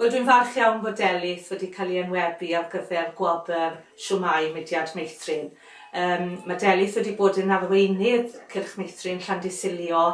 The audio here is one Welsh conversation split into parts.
Rydw i'n falch iawn fod Delyth wedi cael ei enwebu ar gyfer Gwobr Siwmai Mudiad Meithrin. Yym, mae Delyth wedi bod yn arweinydd Cylch Meithrin Llandysilio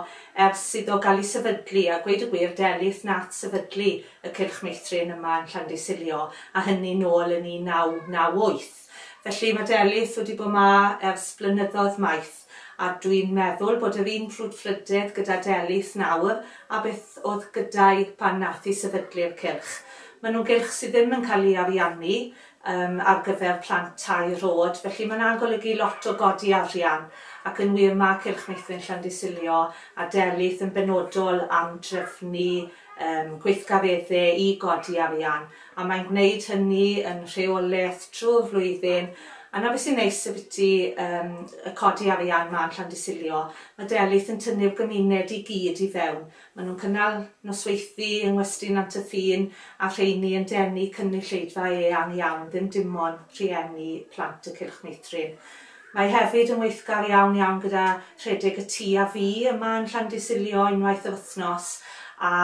ers iddo gael ei sefydlu, a gweud y gwir, Delyth nath sefydlu y Cylch Meithrin yma yn Llandysilio, a hynny nôl yn 1998. Felly, mae Delyth wedi bod 'ma ers blynyddoedd maith, a dwi'n meddwl bod yr un frwdfrydedd gyda Delyth nawr a beth oedd gyda'i pan nath hi sefydlu'r cylch. Maen nhw'n gylch sydd ddim yn cael ei ariannu yym ar gyfer plant tair oed, felly mae 'na'n golygu lot o godi arian, ac yn wir, mae Cylch Meithrin Llandysilio a Delyth yn benodol am drefnu yn gweithgareddau i godi arian, a mae'n gwneud hynny yn rheolaidd trwy'r flwyddyn, a 'na beth sy'n neis ambiti yym y codi arian 'ma yn Llandysilio, ma' Delyth yn tynnu'r gymuned i gyd i fewn, ma' nhw'n cynnal nosweithdy yng Ngwesty Nant y Ffin a rheiny yn denu cynulleidfa eang iawn, ddim dim ond rhieni plant y Cylch Meithrin. Mae hefyd yn weithgar iawn iawn gyda rhedeg y tu a fu yma yn Llandysilio unwaith yr wythnos a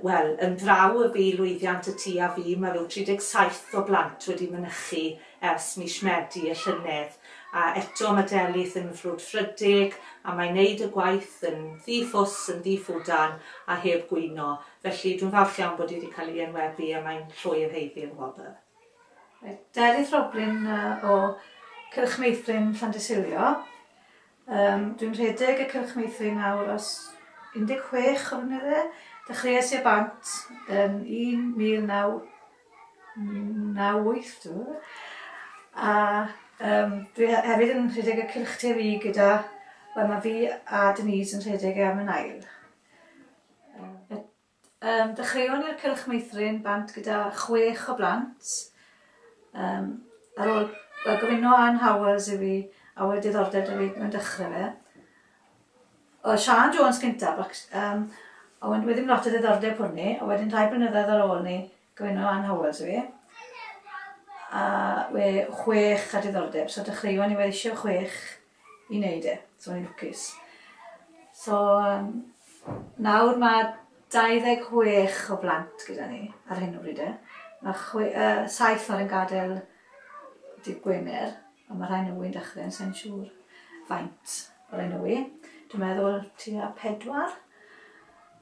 wel yn ddraw y bu lwyddiant y tu a fu ma ryw 37 o blant wedi mynychu ers mis Medi y llynedd a eto ma Delyth yn frwdfrydig a mae'n neud y gwaith yn ddi ffws yn ddi ffwdan a heb gwyno felly dwi'n falch iawn bod hi di cael ei enwebu a mae'n llwyr heiddi'r wobr. Delyth Roblin o Cylch Meithrin Llandysilio. Um, dwi'n rhedeg y Cylch Meithrin nawr os 16 o flynydde. Dechreuais i bant yn 1998 dwi meddwl. A um, dwi hefyd yn rhedeg y Cylch TV gyda, wel mae fi a Denise yn rhedeg e am yn ail. Yym, dechreuon ni ar Cylch Meithrin bant gyda chwech o blant. Yym, ar ôl yy gofino Ann Howells i fi a oedd diddordeb 'da fi mewn dechrau fe. Oedd Siân Jones cyntaf ac yym a wed- wedyn lot o ddiddordeb hwrni a wedyn rhai blynyddoedd ar ôl 'ny Gwenno Ann Howells yw 'i. A we chwech a diddordeb. So dechreuon i weithio chwech i wneud e. So o'n i'n lwcus. So um, nawr mae 26 o blant gyda ni ar hyn o bryd e. Mae chwe, uh, saith nawr yn gadael dydd Gwener. Wel ma' rhai newy'n dechre yn sai'n siŵr faint o rai newy. Dwi'n meddwl tua pedwar.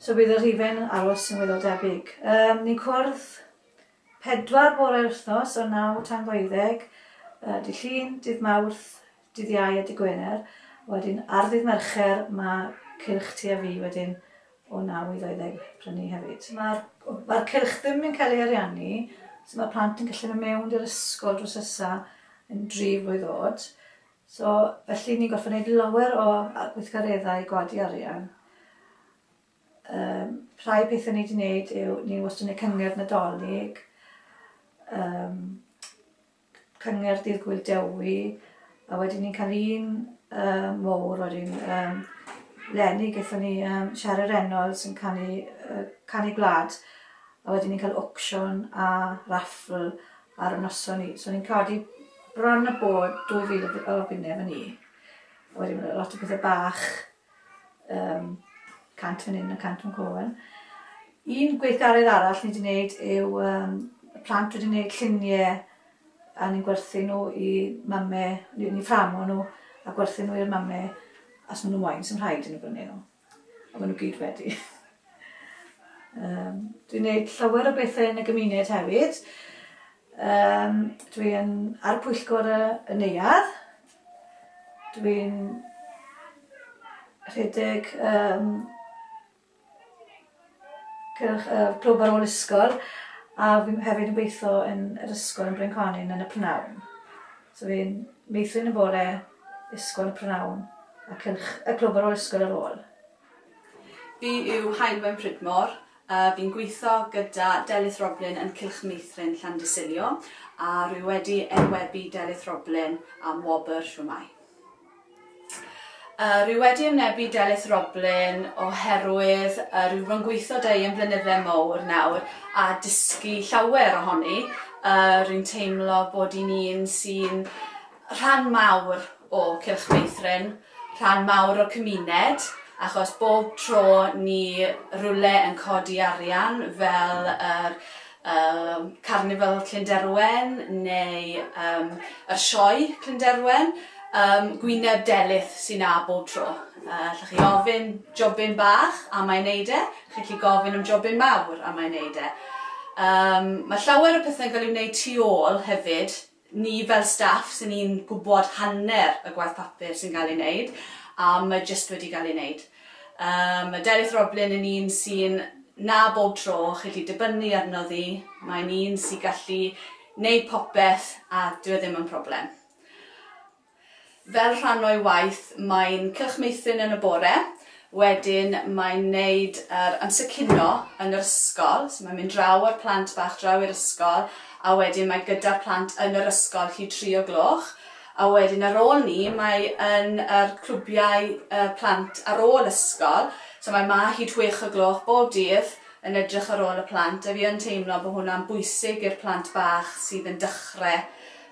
So bydd y rhifen aros yn weddol debyg. Um, ni'n cwrdd pedwar bore wythnos o naw tan ddeuddeg, uh, dydd Llun, dydd Mawrth, dydd Iau a dydd Gwener. Wedyn ar ddydd Mercher mae cylch ti a fi wedyn o 9 i 20 prynu hefyd. Mae'r mae'r cylch ddim yn cael ei ariannu, so mae'r plant yn gallu mynd mewn i'r ysgol drws ysa yn dri flwydd oed. So, felly ni'n gorfod gwneud lawer o gweithgareddau i godi arian. Um, rhai pethau ni wedi gwneud yw, ni wastad yn gwneud cyngerdd nadolig, um, cyngerdd Dydd Gŵyl Dewi, a wedyn ni'n cael un um, mowr wedyn um, lenni gyda ni um, Siarad Reynolds yn canu, uh, canu gwlad a wedyn ni'n cael auction a raffl ar y noson ni. So ni'n codi bron y bod 2000 o bunnau fan ni. A wedyn mae lot o bethau bach um, cant fan hyn a cant fan coen. Un gweithgaredd arall ni wedi gwneud yw um, y plant wedi gwneud lluniau a ni'n gwerthu nhw i mamme, ni'n fframo nhw a gwerthu nhw i'r mamme as maen nhw'n wain sy'n rhaid yn y brynu nhw. A maen nhw gyd wedi. um, dwi'n gwneud llawer o bethau yn y gymuned hefyd. Um, dwi'n ar pwyllgor y, y neuad, Dwi'n rhedeg yym cylch yy clwb ar ôl ysgol a fi'n hefyd yn gweitho yn yr ysgol yn Brynconyn yn y p'nawn. So fi'n meithrin y bore, ysgol y p'nawn a cylch y clwb ar ôl ysgol ar ôl. Fi yw Heilwen Pridmore a fi'n gweitho gyda Delyth Roblin yn Cylch Meithrin Llandysilio a rwy wedi enwebu Delyth Roblin am wobr Shwmae. Yy rwy wedi ymnebu Delyth Roblin oherwydd yy rwy wedi gweitho da i am flynydde mowr nawr a dysgu llawer ohoni yy rwy'n teimlo bod i'n un sy'n rhan mawr o Cylch Meithrin, rhan mawr o'r cymuned, achos bob tro ni rywle yn codi arian fel yr yym Carnifal Clynderwen neu yym yr Sioe Clynderwen, yym gwyneb delyth sy 'na bob tro. Yy allwch chi ofyn jobyn bach a mae'n neud e, chi'n gallu gofyn am jobyn mawr a mae'n neud e. Yym ma' llawer o pethe'n ga'l 'u wneud tu ôl hefyd Ni fel staff sy'n ni'n gwybod hanner y gwaith papur sy'n cael ei wneud a mae jyst wedi cael ei wneud. Yy mae Delyth Roblin yn un sy'n na bob tro chi 'llu dibynnu arno ddi, mae'n un sy gallu wneud popeth a dyw e ddim yn problem. Fel rhan o'i waith, mae'n cylch meithrin yn y bore, wedyn mae'n wneud yr amser cinio yn yr ysgol, so mae'n mynd draw â'r plant bach draw i'r ysgol, a wedyn mae gyda'r plant yn yr ysgol hyd tri o gloch, a wedyn ar ôl 'ny mae yn yr clwbiau y plant ar ôl ysgol, so mae 'ma hyd chwech o gloch bob dydd yn edrych ar ôl y plant, a fi yn teimlo bod hwnna'n bwysig i'r plant bach sydd yn dechrau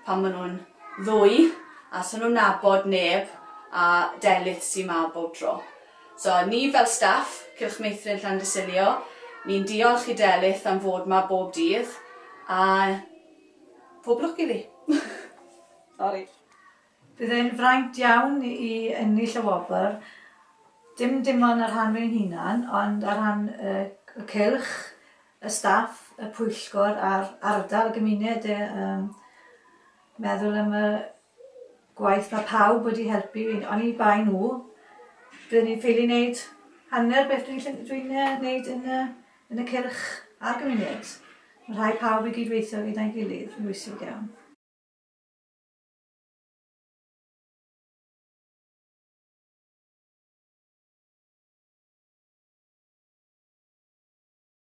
pan maen nhw'n ddwy a so nhw'n nabod neb a Delyth sy ma bob tro. So ni fel staff Cylch Meithrin Llandysilio ni'n diolch i Delyth am fod ma bob dydd a pob lwc iddi. Sori. Bydd e'n fraint iawn i ennill y wobr, dim dim ond ar rhan fy hunan ond ar rhan y cylch y staff, y pwyllgor a'r ardal, y gymuned yy yym meddwl am y gwaith ma' pawb wedi helpu i oni bai nhw bydden ni'n ffili neud hanner beth dwi'n ll- dwi'n yy neud yn y yn y cylch a'r gymuned. Ma' rhai pawb i gyd-weithio gyda'i gilydd yn bwysig iawn.